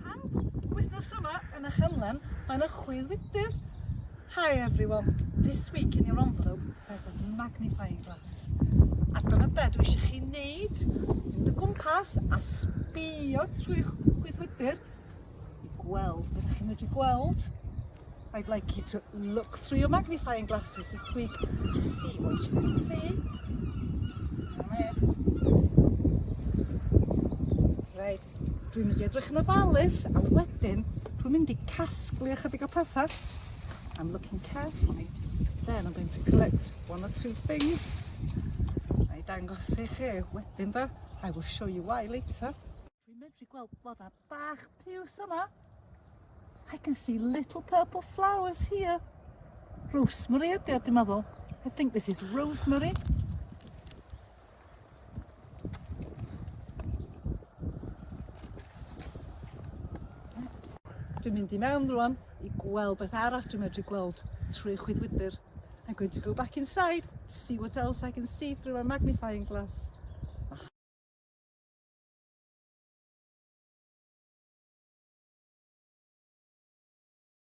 Pam? Wythnos yma yn y Chanlyn mae 'na chwyddwydr. Hi everyone, this week in your envelope there's a magnifying glass. A dyna be dwi eisiau chi wneud, mynd y gwmpas a sbio trwy'ch chwyddwydr i gweld beth chi'n medru gweld. I'd like you to look through your magnifying glasses this week, see what you can see. Right. Dwi'n mynd i edrych yn ofalus a wedyn dwi'n mynd i casglu ychydig o pethau. I'm looking carefully. Then I'm going to collect one or two things. Na i dangos i chi wedyn da. I will show you why later. Dwi'n medru gweld blodau bach piws yma. I can see little purple flowers here. Rosemary ydy o, dwi'n meddwl. I think this is rosemary. Dwi'n mynd i mewn rwan i gweld beth arall dwi'n medru gweld trwy chwydwydr. I'm going to go back inside, see what else I can see through my magnifying glass.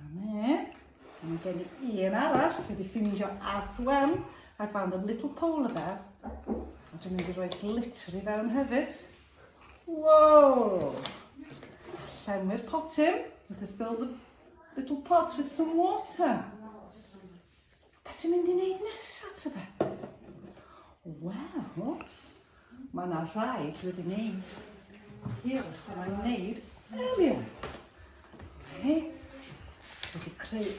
Amen. Mae gen i un arall, dwi wedi ffindio Arth Wen. I found a little polar bear. A dwi'n mynd i roi glitter i fewn hefyd. Wow! Llenwi'r pot hyn. Need to fill the little pot with some water. Beth dwi'n mynd i wneud nesaf, ta be? Wel, mae yna rhai dwi wedi wneud hir os yma nhw'n wneud earlier. He? Wedi creu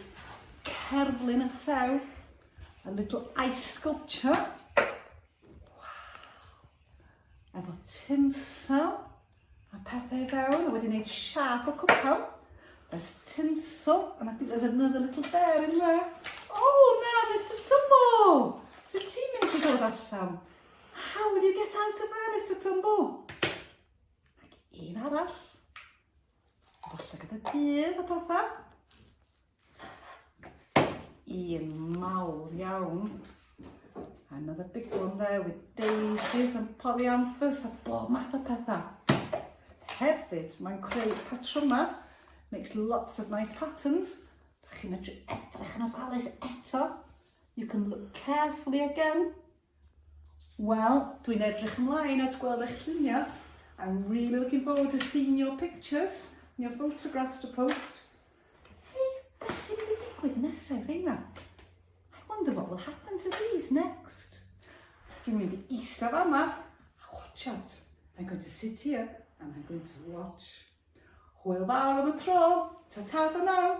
cerflun yn rhew, a little ice sculpture. Wow. Efo tinsel, A pethau fewn, a wedi gwneud siap o cwpan. There's tinsel, and I think there's another little bear in there. Oh, na, Mr Tumble! Sut ti'n mynd i ddod allan? How do you get out of there, Mr Tumble? Ac un arall. Falle gyda dydd a pethau. Un mawr iawn. Another big one there with daisies and polyanthus a bob math o pethau. Hefyd, mae'n creu patrymau, makes lots of nice patterns. Chi'n medru edrych yn ofalus eto. You can look carefully again. Wel, dwi'n edrych ymlaen at gweld eich lluniau. I'm really looking forward to seeing your pictures and your photographs to post. Hei, beth sy'n mynd i digwydd nesau, Reina? I wonder what will happen to these next. Dwi'n mynd i eistedd yma a watch out. I'm going to sit here and I'm going to watch. Hwyl fawr am y tro. Ta-ta for now.